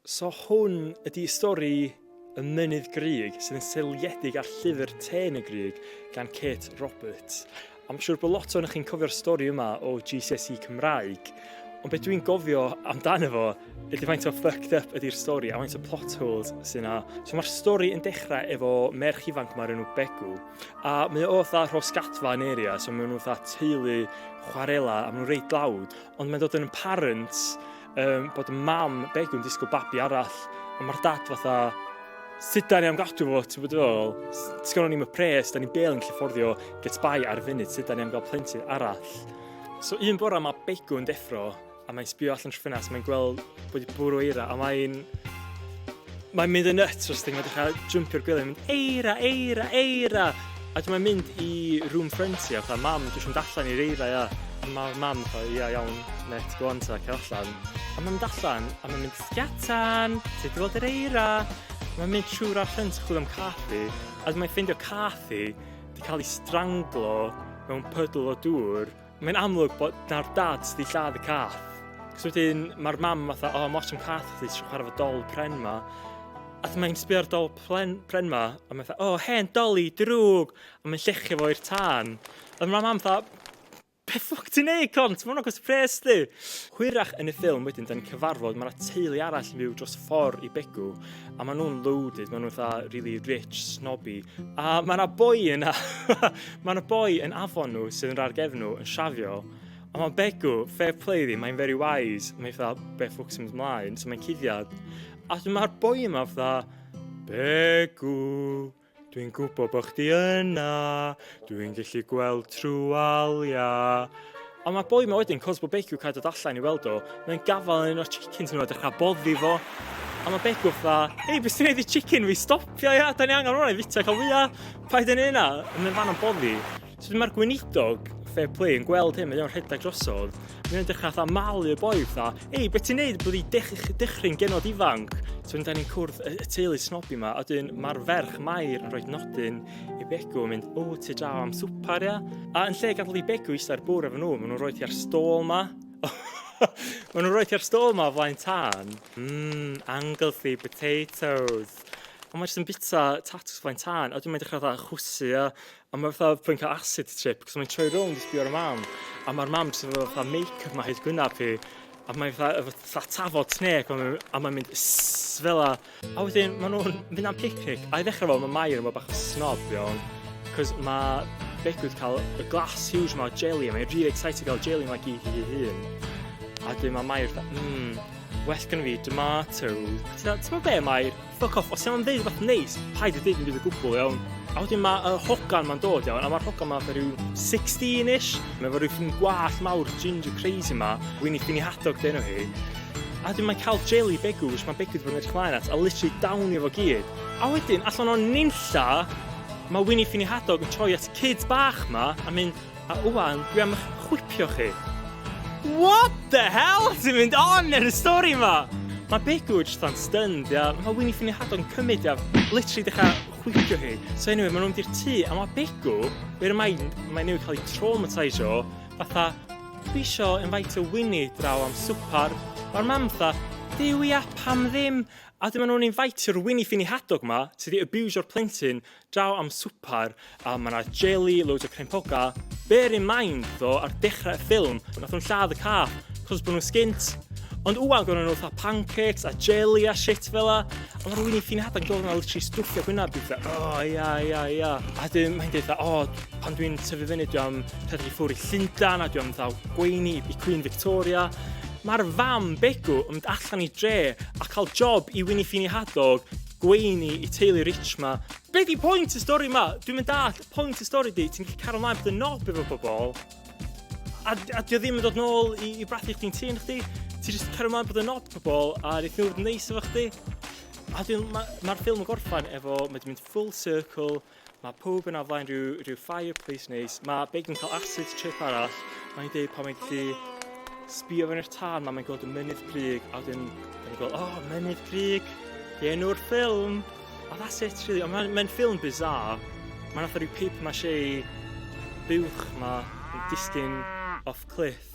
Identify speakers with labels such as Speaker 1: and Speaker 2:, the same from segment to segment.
Speaker 1: So hwn ydi stori y mynydd grug sydd yn seiliedig ar llyfr Tên y Grug gan Kate Roberts. A mae'n siŵr bod lot o'n chi'n cofio'r stori yma o GCSE Cymraeg, ond beth dwi'n gofio amdano fo ydy faint o fucked up ydy'r stori a faint o plot holes sy'n na. So mae'r stori yn dechrau efo merch ifanc mae'r enw Begw, a mae o fatha rhos gadfa yn area, so maen nhw fatha teulu chwarela a maen nhw'n reit lawd, ond mae'n dod yn parents um, bod y mam Begw'n disgwyl babi arall, a mae'r dad fatha, sut da ni am gadw fo, ti'n bod ôl? Ti'n gwneud ni'n pres, da ni'n bel yn llyfforddio, get by ar y funud, sut da ni am gael plentyn arall? So un bora mae Begw'n deffro, a mae'n sbio allan trwy ffenast, mae'n gweld bod wedi bwrw eira, a mae'n Mae'n mynd yn nuts os ti'n edrych ar jympio'r gwely, mynd eira, eira, eira! A dwi'n mae'n mynd i room front i, a fatha, mam, dwi eisiau mynd allan i'r eira, ia. A mae'r mam, fatha, ia, iawn, net, go on ta, cael allan. A mae'n mynd allan, a mae'n mynd, sgatan, ti wedi gweld yr eira? Mae'n mynd trwy'r ar ffrant chwilio am cath i, a dwi'n ffeindio cath i, di cael ei stranglo mewn pydl o dŵr, Mae'n amlwg bod nawr dad sydd wedi lladd y cath. Cos wedyn mae'r mam fatha, o, oh, moch yn cath chdi, ti'n chwarae fo dol pren ma. A mae'n sbio'r dol pren, pren ma, a mae'n fatha, o, oh, hen doli, drwg, a mae'n llechio fo i'r tân. A mae'r mam fatha, Be ffwc ti'n neud, cont? Mae'n agos pres di. Hwyrach yn y ffilm wedyn, da ni'n cyfarfod, mae yna teulu arall yn byw dros ffordd i Begw. a maen nhw'n loaded, maen nhw'n fatha really rich, snobby. A mae yna boi yna, mae yna boi yn afon nhw sydd yn rhaid gefn nhw yn siafio, a mae'n begw, fair play ddi, mae'n very wise, mae'n fatha, be ffwc sy'n mynd ymlaen, so mae'n cuddiad. A mae'r boi yma fatha, begw, Dwi'n gwybod bod chdi yna, dwi'n gallu gweld trwy waliau. Ond mae boi ma wedyn, cos bod Begw'n cael dod allan i weld o, mae'n gafael yn un o'r chickens nhw a dechrau boddi fo. A mae Begw fatha, ei, beth sy'n ei i chicken fi, stopio ia, da ni angen hwnna i fita cael fwyaf, paid yn ei yna. Mae'n fan o'n boddi. So mae'r gweinidog fair play yn gweld hyn, mae o'n rhedeg drosodd, mae o'n dechrau fatha malu'r boi fatha, ei, beth ti'n neud, blydi dech, dechrau'n genod ifanc. So ni'n dani'n cwrdd y, y teulu snobi yma, a dyn mae'r ferch Mair yn rhoi nodyn i Begw yn mynd, o, ti draw am swpar, ia? A yn lle ganddo i Begw eistedd bwr efo nhw, maen nhw'n rhoi ti ar stôl yma. maen nhw'n rhoi ti ar stôl yma flaen tân. Mmm, Anglesey potatoes. Ond mae jyst yn bita tatws flaen tân, a dwi'n mynd dechrau fatha chwsu a, A mae fatha pwy'n cael acid trip, cos mae'n troi rownd i sbio ar y mam, a mae'r mam jyst efo fatha make-up mae hyd gwynaf hi, a mae'n fatha, efo fatha tafod snake, a mae'n a mae'n mynd sss fela. A wedyn maen nhw'n mynd am picnic, a i ddechrau fo, mae Mair yn bod bach o snob iawn, cos mae Begw wedi cael y glas huge yma o jelly, a mae'n really excited gael jelly yma gyd i hi hun. A wedyn mae Mair fatha, mmm, well gynnu fi tomato. Ti'n meddwl be Mair? Fuck off, os ti am ddeud rhywbeth neis, paid â deud dim byd o gwbl, iawn? A wedyn mae y hogan ma'n dod, iawn, a mae'r hogan ma fatha rhyw 16-ish. Mae efo rhyw ffyn gwallt mawr, ginger crazy ma, Winnie Finny Hadog dyn nhw hi. A wedyn mae'n cael jelly begw, which mae'n begw wedi bod yn edrych mlaen at, a literally down efo gyd. A wedyn, allan o'n ninlla, mae Winnie Finny Hadog yn troi at kids bach ma a mynd, A ŵan, dwi am eich chwipio chi. What the hell sy'n mynd on yn y stori ma? Mae Begw jyst yn stunned, ia. Mae Winnie ffini hadon cymryd, ia. Literally dechrau chwipio hi. So anyway, maen nhw'n di'r tŷ, a mae Begw, bear in mind, mae newid cael ei traumatisio, fatha, dwi isio invitio Winnie draw am swpar. Mae'r mam fatha, Duw ia, pam ddim? A dyma nhw'n invitio'r Winnie ffini hadog ma, sydd wedi abusio'r plentyn, Daw am swpar a mae yna jeli, loads o crempoga. Bear in mind, ddo, ar dechrau'r ffilm, nath nhw'n lladd y ca, cos bod nhw'n sgint. Ond wwan gorau nhw fatha pancakes a jeli a shit fel la. A mae'r wyni ffin hadan gorau na literally stwffio gwynaf byd fe. O, oh, ia, ia, ia. A dyn, mae'n dweud, o, oh, pan dwi'n tyfu fyny, dwi am rhedeg i ffwrdd i Llundan a dwi am ddaw gweini i Queen Victoria. Mae'r fam begw yn mynd allan i dre a cael job i Winnie Fini Hadog Gweini i teulu rich ma. Be di point y stori ma? Dwi'm yn dall point y stori di, ti'n gallu cario mlaen bod yn nob efo pobol. A, a di o ddim yn dod nôl i, i brathu chdi'n tîn chdi. Ti jyst cario mlaen bod yn nob pobol a rhaid nhw fod yn neis efo chdi. A dwi'n, mae'r ma ffilm yn gorffan efo, mae di mynd full circle, Mae pawb yna flaen rhyw, rhyw fireplace neis. Mae Big yn cael acid trip arall. Mae'n dweud pan mae'n gallu sbio fewn i'r tân, mae mae'n gweld y mynydd prig, a wedyn mae'n gweld, oh, mynydd prig, i enw'r ffilm. A that's it, really. Ond mae'n mae ffilm bizarre. Mae'n atho rhyw paper mache buwch ma, yn disgyn off cliff.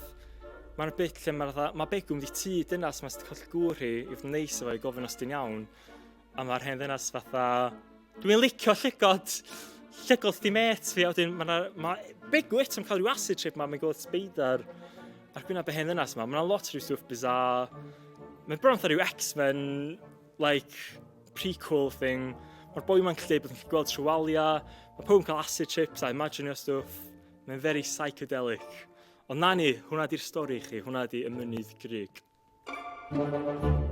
Speaker 1: Mae'n bit lle mae'n fatha, mae Begwm di tŷ dynas mae'n sydd wedi colli gŵr hi, i fod yn neis efo i gofyn os di'n iawn. A mae'r hen ddynas fatha, dwi'n licio llygod, llygod di met fi, a wedyn mae yna, mae Bigwit yn cael rhyw acid trip yma, mae'n gweld speidar ar gwynaf y hen ddynas yma, mae yna lot rhyw stwff bizar. Mae'n bron fatha rhyw X-Men, like, prequel thing. Mae'r boi yma'n gallu bod yn gweld trwywalia, mae pob yn cael acid trips a imaginio stwff. Mae'n very psychedelic. Ond na ni, hwnna di'r stori chi, hwnna di y mynydd grig. Thank you.